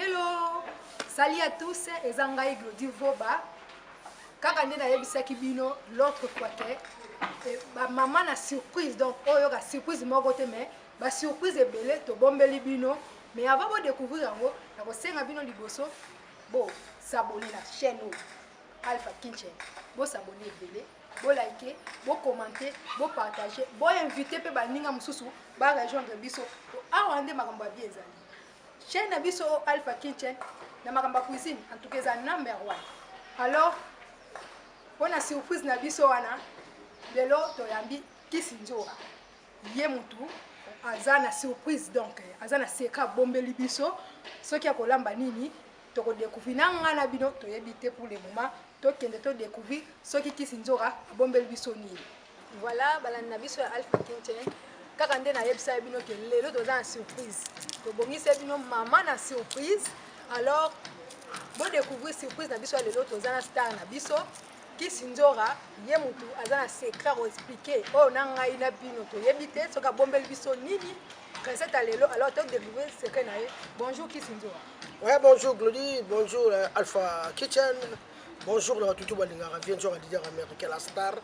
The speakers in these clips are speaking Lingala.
Hello, salut à tous, eza ngai Glody Voba. Kaka nde nayebisaki bino l'autre fois que eh, ba mama na surprise donc oyo ka surprise moko te mais ba surprise ebele tobombeli bino mais avant bo découvrir yango nakosenga bino liboso bo s'abonner na chaîne oyo Alpha Kinchen. Bo s'abonner ebele. bo like bo commente bo partage bo invite mpe baninga mosusu ba rejoindre biso po awa nde makambo ya bi ezali chaîne na biso oyo alpha kitchen na makambo ya cuisine en tout cas eza number one alors mpo na surprise na biso wana lelo toyambi kisi nzoka ye mutu aza na surprise donc aza na secret abombeli biso soki akolamba nini toko découvrir na nga na bino toyebi te pour le moment tokende to découvrir soki kisi nzoka abombeli biso nini voilà balandi na biso ya alpha kinchen kaka nde nayebisaki bino ke lelo toza na surprise tobongisi bino mama na surprise alors bodécouvrir surprise na biso ya lelo toza na star na biso kisi nzora ye motu aza na secret akoexplike oyo na ngai na bino toyebi te soki abombeli biso nini Princesse ya lelo alors to découvrir secret na ye. Bonjour Kisinzora. Ouais, bonjour Glody, bonjour euh, Alpha Kitchen. Bonjour na batutu balingaka vie nzora leader américain la star.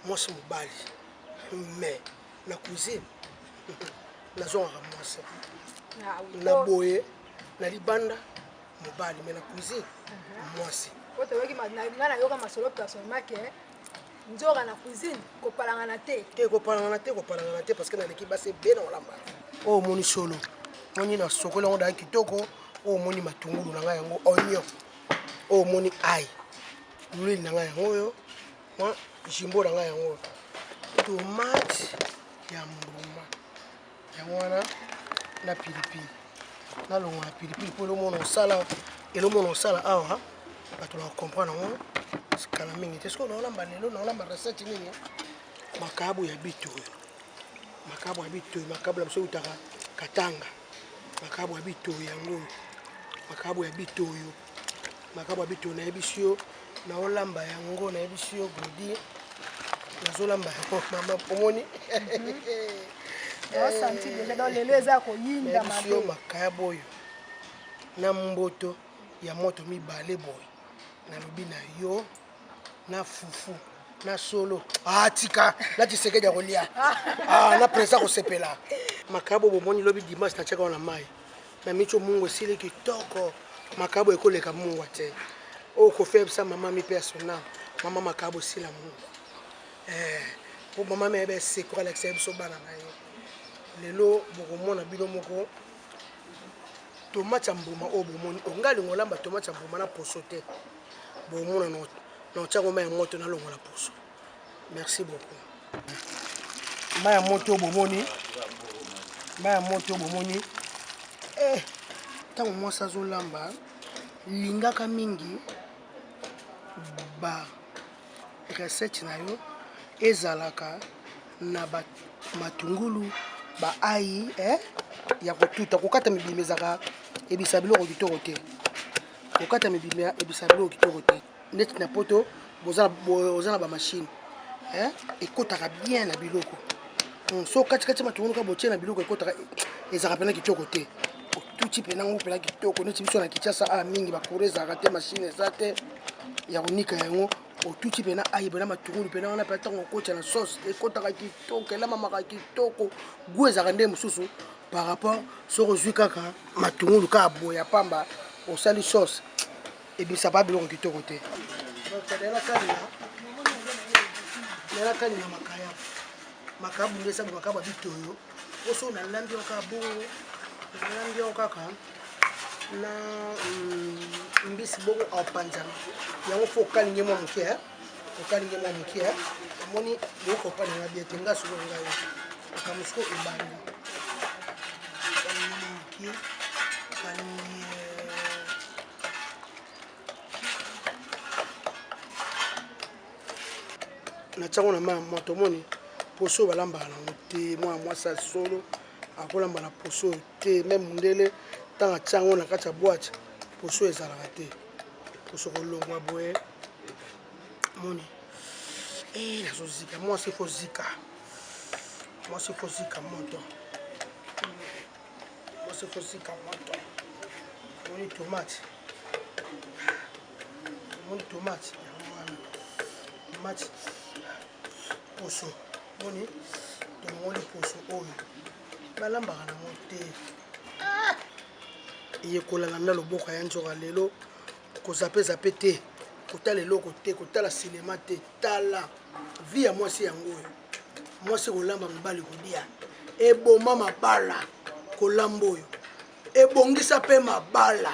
Mwasi mobali. Mais na cousine nazongaka mwasi. Ah na oh. boye na libanda mobali mais na cousine mhm. mwasi. Oyo toyoki nga nayoka masolo personnellement ke Ndjora na cuisine kopalangana te. Te kopalangana te kopalangana te parce que naleki basi ebele na kolamba. Oyo omoni solo moni na sokoli yango daya kitoko oyo omoni matungulu na ngai yango oignon oyo omoni ai lwile na ngai yango oyo jimbo na ngai yango oyo tomate ya mbuma yango wana na pilipili nalongola pilipili mpo elomona osala elomona osala awa bato na comprendre yango sikala mingi te soki naolamba lelo naolamba recette nini makabu ya bitoyo makabu ya bitoyo makabu na biso eutaka katanga makabu ya bitoyo yango makabu ya bitoyo makambo ya bitolo nayebisi yo naolamba yango nayebisi yo glodi nazolamba yango mama omoni lelo eza koyinda nayebisi yo makaya boyo na mboto ya moto mibale boye nalobi na yo na fufu na solo atika ah, na tisekedi ya kolia ah, na presa kosepela makaya boyo bomoni lobi dimanche na tiaka wana mai na micho mungu esili kitoko makabo ekoleka mungwa te oyo kofi ayebisa mama mi persona mama makabo esila mungwa eh, po mama mi ayeba esekura alakisa ye biso bana na ye lelo bokomona bino moko tomate ya mbuma oyo bomoni onga lingo olamba tomate ya mbuma na poso te bomona na otiango mai ya moto nalongola poso Merci beaucoup. Maya moto bomoni. Maya moto bomoni. Eh, tango mwasi azolamba lingaka mingi ba recette na yo ezalaka na ba matungulu ba ayi eh, ya kotuta kokata mibimba ezalaka ebisa biloko kitoko te kokata mibimba ebisa biloko kitoko te neti na poto boza na bamashine eh, ekotaka bien na biloko hmm, so katikati matunguluka botie na biloko ekotaka ezalaka mpena kitoko te otuti mpena yango mpena kitoko neti biso na kinshasa a ah, mingi bakura ezalaka te mashine eza te ya konika yango otuti mpena ayi mpena matungulu mpena wana mpena ntango okotya na sauce ekotaka kitoko elamamaka kitoko gu ezalaka nde mosusu par rapport soki ozwi kaka matungulu kaka boya pamba osali sauce ebimisa ba biloko kitoko te nalakani na makaya makaya bundu esabu makaya ba bitoyo oso nalambi yango kaka bongo nalambi yango kaka na mm, mbisi bongo aopanzana yango fo okalingi mwa moke okalingi mwa moke omoni boyoka opanzana bie te nga soko ngai makambo soko ebanda moke natiango na mai ya moto omoni poso oyo balambaka nango te mwana mwasi ya solo akolamba na poso oyo te me mondele ntango atia yango na kati ya bwate poso ezalaka te poso kolongwa boye moni e eh, nazozika mwasi ekozika mwasi ekozika moto mosokosika moto omoni tomate omoni tomate yango wana tomate poso moni tomoni poso oyo balambaka nango te ah! eyekola landa loboko ya nzoka lelo kozapezape te kotala eloko te kotala sinema te tala vi ya mwasi yango oyo mwasi kolamba mobali kolia eboma mabala kolamba oyo ebongisa mpe mabala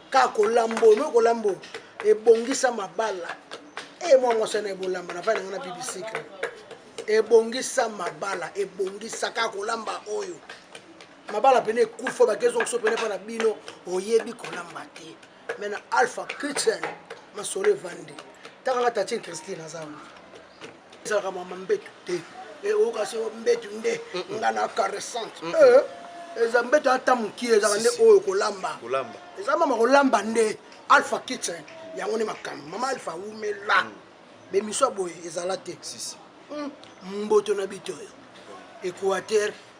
kaka kolamba oyo moi kolamba oyo ebongisa mabala e mwa mwasi wana ebolamba na vai na ngai na bibisikre ebongisa mabala ebongisa kaka kolamba oyo mabala pene ekufa bakezongiso pene mpa na bino oyebi kolamba te mais na alpha kitchen masolo evandi taka nga tatine christine aza wana ezalaka mama mbetu te eh, oyoka se mbetu nde nga na caressante eh, eza mbetu ata mokie ezalaka nde oyo kolamba eza mama kolamba nde alpha kitchen yango nde makambo mama alpha wumela mm. bemiswa boye ezala te hmm, mboto na bito oyo equateur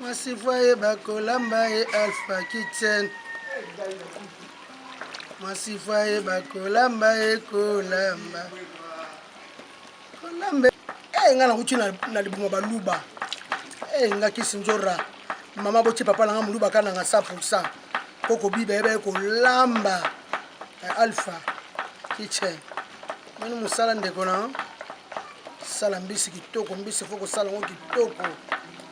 Mwasi foye bakolamba ye Alpha Kitchen. Mwasi foye bakolamba ye kolamba. Kolamba. Eh nga nakuti na libuma baluba. Eh nga kisi njora. Mama boti papa na nga muluba kana nga 100%. Koko biba yeba kolamba. Eh, Alpha Kitchen. Mani musala ndeko na. Sala mbisi kitoko, mbisi foko sala ngo kitoko.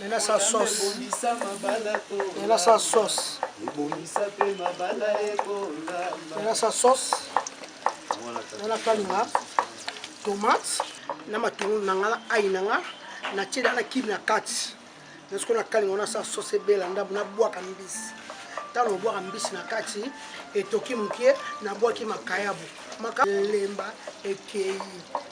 Nena sa sauce. Nena sa sauce. Nena sa sauce. Nena kalinga tomate na matungulu na nga na ai na nga na tie na kibi na kati na sikoyo na kalinga wana sa sauce ebela ndambo na bwaka mbisi ntango obwaka mbisi na kati etoki moke nabwaki makayabu maka lemba ekei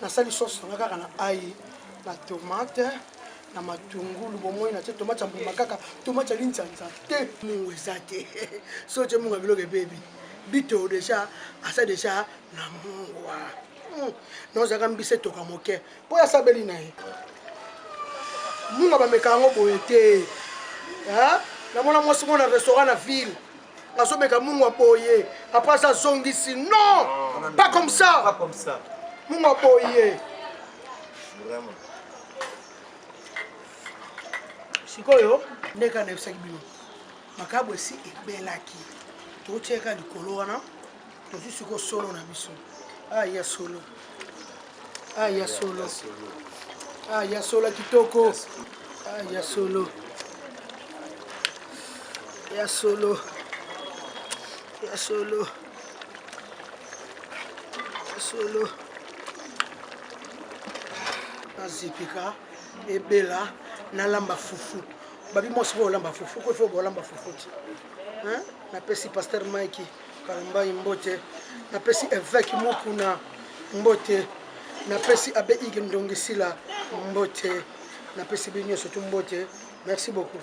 nasali sauce nanga kaka na ail na tomate na matungulu bomoi na te tomate ya mbuma kaka tomate ya linzanza te mungu eza te so te mungu ya biloko ebebi bito deja aza deja na mungwa hmm. nozalaka mbisi etoka moke mpo ya sabeli na ye munga bameka yango boye te namona mwasi moko na restaurant na ville azomeka mungu aboye apres aza azongisi non pas comme ça mungu aboye sikoyo ndenge anayebisaki bino makabo esi ebelaki tokotiaka likolo wana tozwi siko solo na biso ah, ya solo ah, ya solo ah, ya solo kitoko ah, ya solo ya solo ya solo ya solo nazipika ebela nalamba fufu babi mwasi mpo olamba fufu kofi obolamba fufu ti napesi paster mike Kalumbayi mbote, napesi Eveke Mukuna mbote, napesi Abbe Ige Ndongi Sila mbote, napesi bino nyonso tu mbote. Merci beaucoup.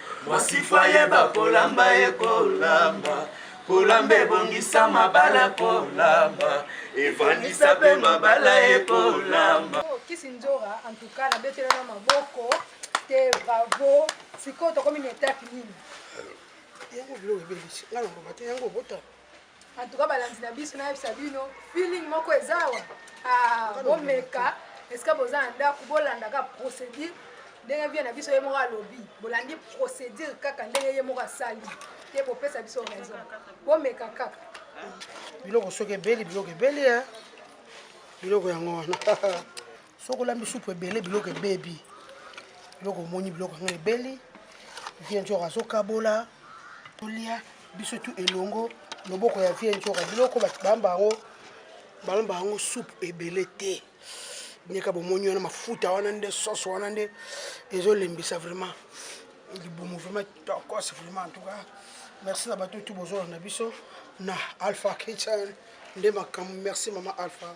mwasifa yeba kolamba ye kolamba kolamba ebongisa mabala kolamba evandisa mpe mabala ye kolamba oh, kisi nzora antuka nabetela na maboko te bravo sikoyo tokomi na etape nini yango biloko ebebisi nga na mboma te yango obota en tout cas balandi na biso nayebisa bino feeling moko eza awa ah, bomeka esika boza na ndako bolandaka procédure ndenge vie na biso ye moko alobi bolandi procédure kaka ndenge ye moko asali te bopesa biso raison bomeka kaka biloko soki ebeli biloko ebeli e biloko yango wana soki olambi supu ebele biloko ebebi biloko omoni biloko yango ebeli vie njora azokabola tolia biso tu elongo loboko ya vie njora biloko bato bamba yango balamba yango supu ebele te ndeka bomoni wana mafuta wana nde sose wana nde ezolembisa vraiment libumu vraiment tokos vraiment en tout cas merci na bato tu bozolanda biso na alpha kitchen nde makambo merci mama alpha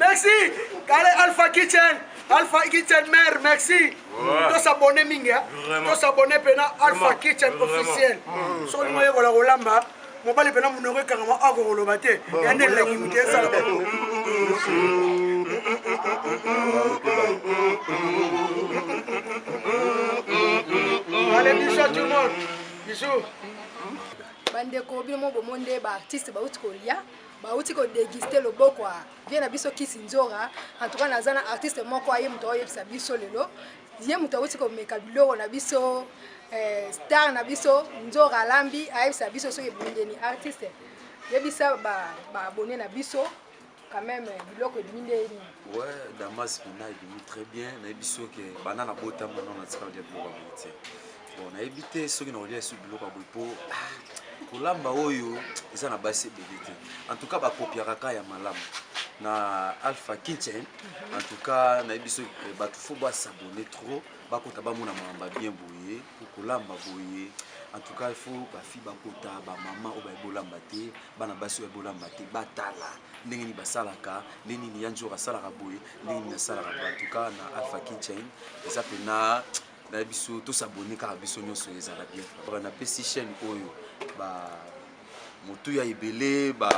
Merci, Kale Alpha Kitchen. Alpha Kitchen Mère, merci. To s'abonner mingi, hein. To s'abonner pena Alpha Kitchen officiel. Soli moye kola kolamba. mobali pena munoko ekangama oko koloba te yande elengi moke esala Allez, bisous à tout le monde. Bisous. bandeko bino mo bomo nde baartiste bauti kolia bauti kodeguste loboko vie na biso kisi nzora en tout cas naza na artiste moko aye moto aoyebisa biso lelo ye moto awuti komeka biloko na biso eh, star na biso nzora alambi ayebisa biso soki ebundeni artiste yebisa baabone na biso quand même euh, biloko ebimi nde nini ouais damas bina ebimi très bien nayebi soki bana na botama no na tika olia biloko ya boye te bon nayebi te soki nakolia esu biloko ya boye mpo ah, kolamba oyo eza na basi ebele te en tout cas bakopiaka ka ya malamu na alpha kitchen mhm. en tout cas nayebi soki eh, bato fo basabone trop bakota bamona mamba bien boye mpo kolamba boye en tout cas il faut bafi bakota bamama oyo bayebi olamba te bana basi oyo bayebi olamba te batala ndenge nini basalaka ndenge nini yanjor asalaka boye ndenge nini asalaka boye en tout cas na alpha kitchen eza mpena na biso to s'abonner kaka biso nyonso ezala bien ba na pesi chaîne oyo ba motuya ebele ba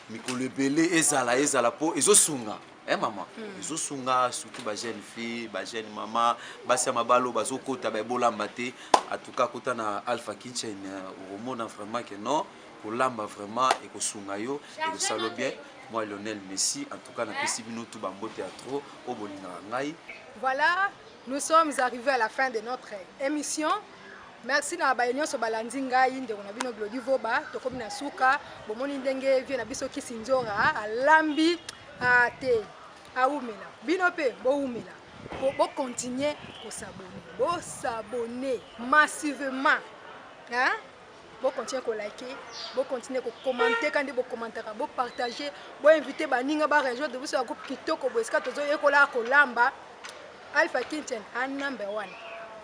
mikolo ebele ezala ezala po ezosunga eh mama mm. ezosunga surtout ba jeune fille ba jeune mama basi ya mabalo bazokota baebolamba te atuka kota na alpha kitchen euh, okomona vraiment ke non kolamba vraiment ekosunga yo ekosalo bien moi lionel messi en tout cas napesi bino tu bambote ya trop oyo bolingaka ngai voilà Nous sommes arrivés à la fin de notre émission. Merci na baye nyonso balandi ngai ndeko na bino Glody Voba tokomi na suka bomoni ndenge vie na biso kisi nzora alambi a te awumela bino mpe bowumela po bokontinue kosabone bosabone massivement hein? Bo continuer ko liker, bo continuer ko commenter ka nde bo commentaka, bo partager, bo inviter baninga ba rejoindre biso ya groupe kitoko boye esika tozo yekola kolamba. Alpha Kitchen a number one.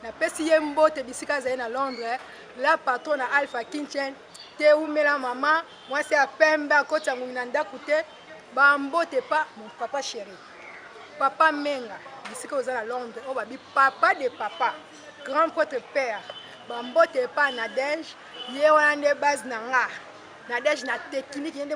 Napesi ye mbote bisika azali na Londres, la patrona Alpha Kitchen. Te umela mama, mwasi ya pembe akoti ya ngungi na ndako te. Ba mbote pa mon papa chéri. Papa Menga, bisika oza na Londres, oyo babi papa de papa. Grand Pretre Père, ba mbote epa Nadège, ye wana nde base na nga. Nadège na technique, ye nde